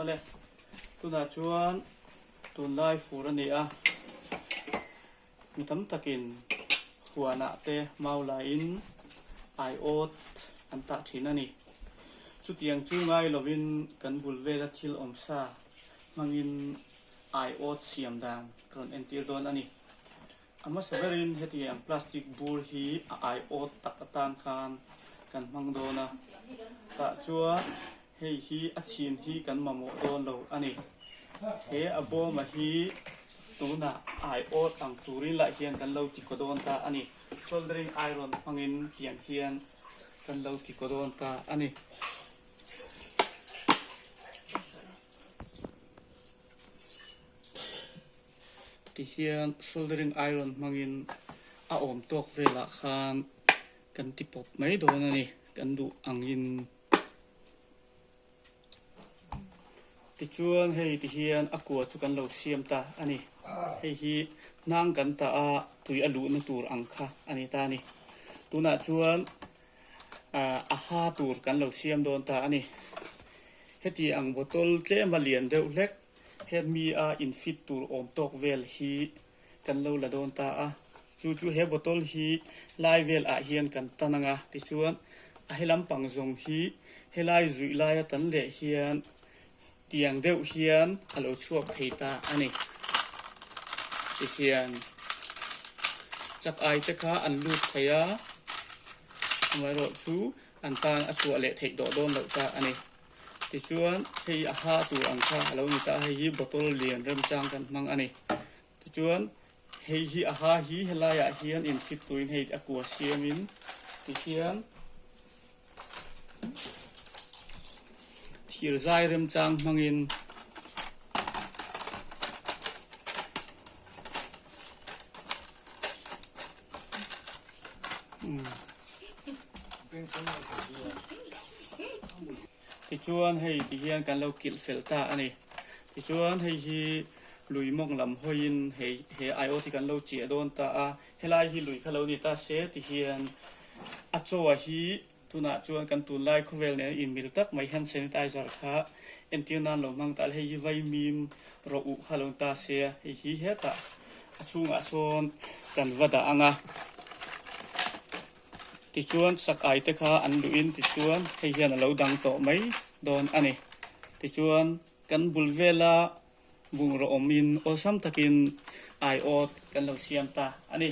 Awle, tunah chuan tunlai fur a ni a, mi tam takin huanah te mau laiin aiawt an tah thin a ni. Chutiang chu ngai lovin kan bul vela thil awm sa hmangin aiawt siam dan ka rawn entir dawn a ni. A hmasa berin heti ang plastic bur hi a aiawt tak atan khan kan hmang dawn a, tah chuan hei hi a chhin hi kan mamawh dawn lo a ni. He a bawma hi tunah aiawt ang turin lah hian kan lo ti kaw dawn ta a ni. Soldering iron hmangin tiang hian kan lo ti kaw dawn ta a ni. ti hian soldering iron hmangin a awm tawk velah khan kan ti pawp mai dawn a ni, kan duh angin. Tichuan hei ti hian a kua chu kan lo siam ta a ni, hei hi hnang kan ta a tui a luhna tur ang kha a ni ta a ni. Tunah chuan a ha tur kan lo siam dawn ta a ni. Heti ang bottle tlem a lian deuh hlek. Hemi a infit tur awm tawk vel hi kan lo la dawn ta a, chu chu he bottle hi lai vel ah hian kan tan anga tichuan a he lampang zawng hi helai zuih lai a tan leh hian tiang deuh hian a lo chhuak thei ta a ni. Ti hian chak ai te kha an lut thei a, amaherawhchu an tan a chhuah leh theih tawh dawn loh ta a ni. Tichuan hei a hah tur ang kha a lo ni ta a, hei hi bottle lian remchang kan hmang a ni. Tichuan hei hi a hah hi helaiah hian inkhip turin hei a kua siamin tihian thir zai remchang hmangin Tichuan hei ti hian kan lo kilh fel ta a ni. Tichuan hei hi lui mawng lam hawiin he he aiawt hi kan lo cheh dawn ta a. Helai hi lui kha lo ni ta se ti hian a chaw hi. Tunah chuan kan tunlai khawvel nena inmil tak mai hand sanitizer kha entir nan lo hmang tah le hei hi vai mim rawh uh kha lo ta se a, hei hi hetah a chhungah sawn kan va dah ang a. Tichuan sak ai te kha an luh in tichuan hei hian a lo dang tawh mai dawn a ni. Tichuan kan bul vela bungraw awm in awlsam takin aiawt kan lo siam ta a ni.